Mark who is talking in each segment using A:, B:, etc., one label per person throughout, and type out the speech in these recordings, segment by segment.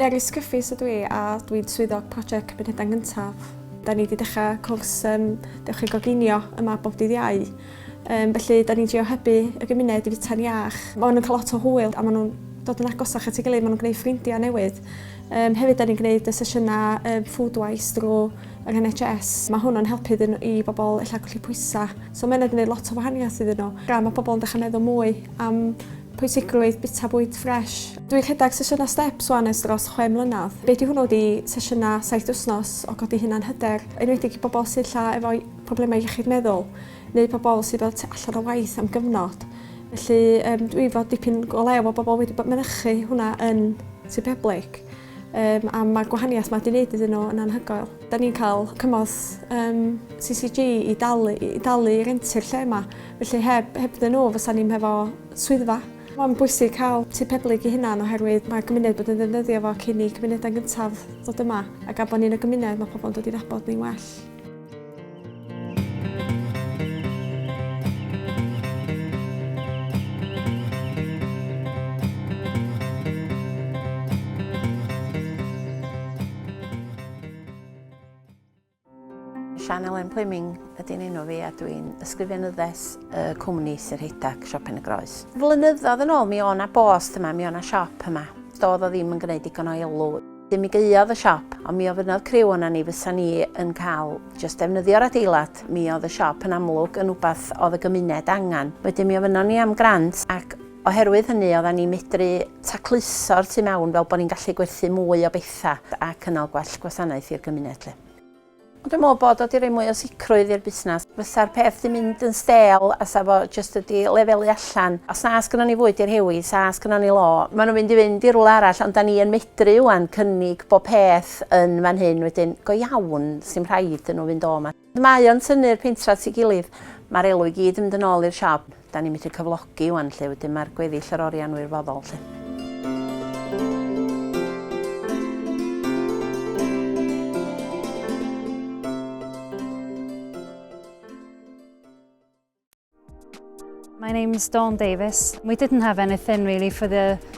A: Mary Scuffis ydw i a dwi'n swyddog prosiect Cymunedau Gyntaf. Da ni wedi dechrau cwrs um, Dewch i Goginio yma bob dydd iau. Um, felly, da ni'n trio hybu y gymuned i fita'n iach. Mae nhw'n cael lot o hwyl a maen nhw'n dod yn agosach at ei gilydd, maen nhw'n gwneud ffrindiau newydd. Um, hefyd, da ni'n gwneud y sesiynau um, food wise drwy yng NHS. Mae hwn yn helpu iddyn nhw, i bobl ella colli pwysau. So mae hynna 'di neud lot o wahaniaeth iddyn nhw. Gan mae pobl yn dechrau meddwl mwy am pwysigrwydd bwyta bwyd ffresh. Dwi'n rhedeg sesiynau steps wan ers dros chwe mlynedd. Be 'di hwnnw ydi sesiynau saith wythnos o godi hunan hyder, enwedig i bobl sy ella efo problemau iechyd meddwl neu pobl sy fel tu allan o waith am gyfnod. Felly yym dwi 'fo dipyn o le efo bobl wedi mynychu hwnna yn Tŷ Peblig. Um, a mae gwahaniaeth mae wedi wneud iddyn nhw yn anhygoel. Da ni'n cael cymorth um, CCG i dalu, i dalu renti'r lle yma, felly heb, heb dyn nhw fysa ni'n hefo swyddfa. Mae'n bwysig cael tu peblyg i hunan oherwydd mae cymuned bod yn ddefnyddio fo cyn i cymunedau gyntaf ddod yma ac a bod ni'n y gymuned mae pobl yn dod i ddabod ni'n well. Sian Elen Plyming ydy'n enw fi a dwi'n ysgrifenyddes y cwmni Sir Heidac, Siop Pen y Groes. Flynyddoedd yn ôl mi o'na bost yma, mi o'na siop yma. Doedd o ddim yn gwneud digon o elw. Mi gaeodd y siop, ond mi ofynnodd criw ona ni fysa ni yn cael jyst defnyddio'r adeilad, mi oedd y siop yn amlwg yn wbath oedd y gymuned angen. Wedyn mi ofynnon ni am grant ac oherwydd hynny odda ni'n medru tacluso'r tu mewn fel bod ni'n gallu gwerthu mwy o bethau a cynnal gwell gwasanaeth i'r gymuned 'lly. Ond dwi'n meddwl bod o 'di rhoi mwy o sicrwydd i'r busnes. Fysa'r peth 'di mynd yn stêl a 'sa fo jyst wedi lefelu allan. Os na sgynnon ni fwyd i rhewi, 'sa sgynnon ni law. Maen nhw'n mynd i fynd i rywle arall, ond 'dan ni yn medru ŵan cynnig bob peth yn fan hyn wedyn, go iawn, 'sdim rhaid iddyn nhw fynd o 'ma. Mae o'n tynnu'r pentre at ei gilydd. Ma'r elw i gyd yn mynd yn ôl i'r siop. Da ni methu cyflogi wan 'lly, wedyn ma'r gweddill yr orian wirfoddol 'lly. My name's Dawn Davis. We didn't have anything really for the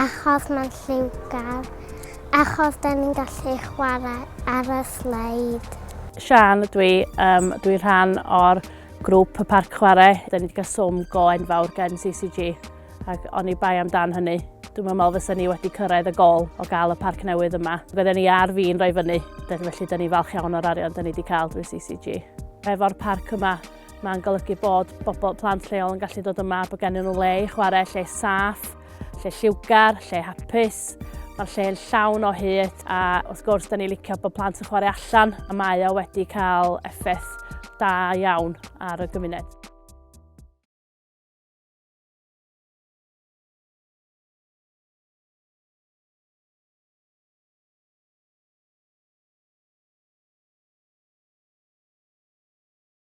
A: Achos mae'n lliwgar. Achos da ni'n gallu chwarae ar y sleid. Sian ydw i, um, dwi'n rhan o'r grŵp y parc chwarae. Da ni wedi cael swm go enfawr gan CCG ac o'n i bai amdan hynny. Dwi'n meddwl fysa ni wedi cyrraedd y gol o gael y parc newydd yma. Bydden ni ar fi'n rhoi fyny, felly da ni falch iawn o'r arian da ni wedi cael drwy CCG. Efo'r parc yma, mae'n golygu bod bobl plant lleol yn gallu dod yma, bod gen nhw le i chwarae, lle saff, lle lliwgar, lle hapus, Mae'r lle yn llawn o hyd a wrth gwrs da ni licio bod plant yn chwarae allan a mae o wedi cael effaith da iawn ar y gymuned.